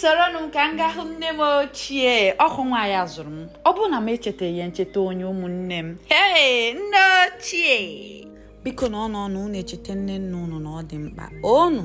soronụ m ka m gaa hụ nne m ochie ọhụ nwa ya zụrụ m ọ bụrụ na m echetaghị ya m cheta onye ụmụnne m ee nne ochie biko na ọnụ ọnụ unu echeta nne nna unu na ọ dị mkpa onu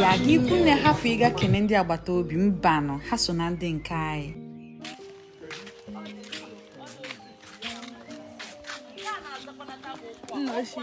ya aga ikwu nne hapụ ịga kene ndị agbata obi mbanụ ha so na ndị nke anyị nna ochie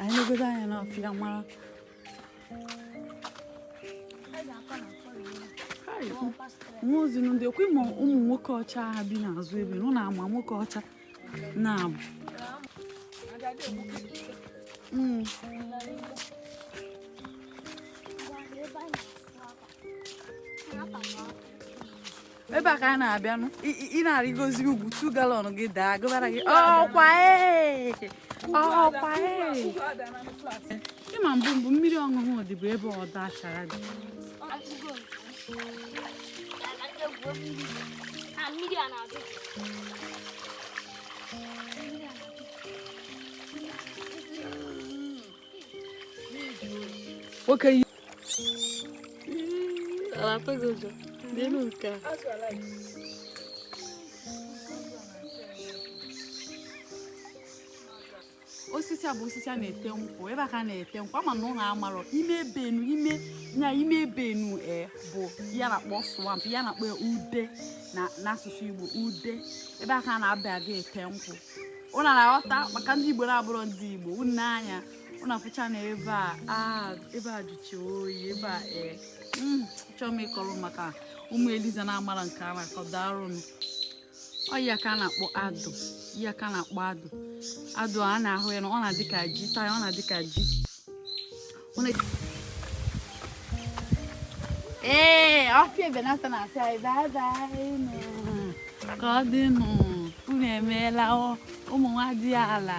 anyị na anya na ọfịa mara nwa ozi ndị okwu ịma ụmụ nwoke ọcha ha bi n'azụ ebe nụ na-ama nwoke ọcha na-abụ hmm. ebe a ka a na-abịanụ ị na-arịgozi ugwu two gallon gị daa gụbara gị ọkwa e! ọkwa e! ịma mbụ mbụ mmiri ọṅụṅụ dị bụ ebe ọdọ achara dị mmiri a na-adị nwoke osisi a bụ osisi a na-ete nkwụ ebe a ka a na-ete nkwụ ama m na unu amarọ ime ebe enu ime ya ime ebe enu e bụ ihe a na-akpọ swamp ihe a na-akpọ ude na n'asụsụ Igbo ude ebe a ka a na-abịa aga ete nkwụ unu na-aghọta maka ndị Igbo na-abụrọ ndị Igbo unu anya ụnụ afụchana ebe a ah, ebe a jụchi oyi ebe a ee eh. hmm, chọọ m ịkọrọ maka ụmụ eliza na-amara nke a na-akọ darụnụ ọ ya ka a na-akpọ adụ ya ka a na-akpọ adụ adụ a na-ahụ ya na ọ na-adị ka ji taa ya ọ na-adị ka ji ee ọfịa ebenata na-asị anyị bye bye ka ọ dị nụ unu emeela ụmụ nwadiala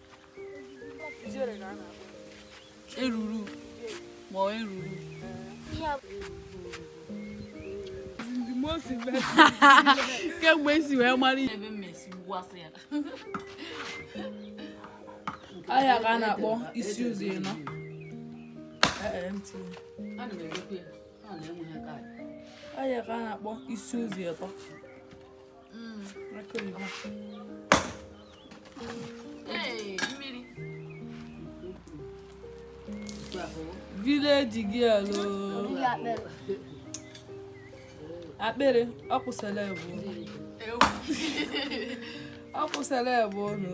eruru ma ọ eruru kemgbe esi wee mara ihe ebe mmesi ugbu asị ya ahịa ka a na-akpọ isi ụzọ ịnọ ahịa ka a na-akpọ isi ụzọ ịtọ village girl akpịrị ọ kwụsịla egbu ọ kwụsịla egbu ọnụ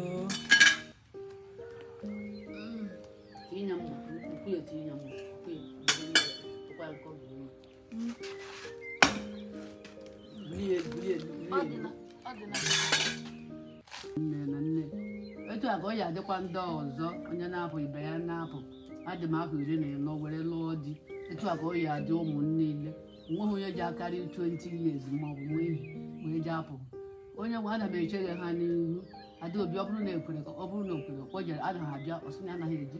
etu a ka ọ ya adịkwa ndị ọzọ onye na-apụ ibe ya na-apụ adị m afọ iri na ịnọ were lụọ di etu a ka ọ ya adị ụmụ m niile o nweghị onye ji akarị 20 years ma ọ bụ nwa ihe wee ji apụ onye nwe ana m echere ha n'ihu adaobi ọ bụrụ na ekwere ka ọ bụrụ na okwere kpọjere anaghị abịa ọsị na anaghị eji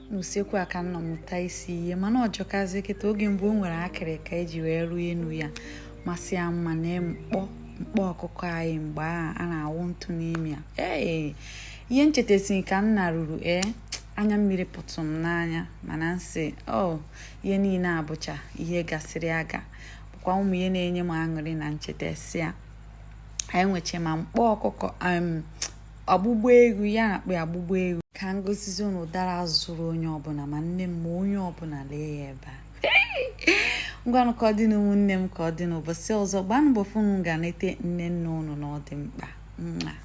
n'usekwu a ka m nọ mụta isi ihe mana ọ jọkazi kịta oge mgbe o nwere akịrịka e ji wee rụọ enu ya masị ya mma na mkpọ mkpọ ọkụkọ anyị mgbe a a na-awụ ntụ n'ime ya ee ihe m chetasị ka m naruru ee anya mmiri pụtụ m n'anya mana m sị o oh, ihe niile abụcha ihe gasịrị aga bụkwa ụmụ ihe na-enye m aṅụrị na m chetasị ya anyị nweche ma mkpọ ọkụkọ ọgbụgba egwu ya na-akpọ ọgbụgba egwu ka m gosizi unu ụdara zụrụ onye ọbụla ma nne m ma onye ọbụla lee ya ebe a ngwanụ ka ọ dịnụ ụmụnne m ka ọ dị n'ụbọchị ọzọ gbanụ mbọ fụ na unu ga nete nne nne unu na ọ dị mkpa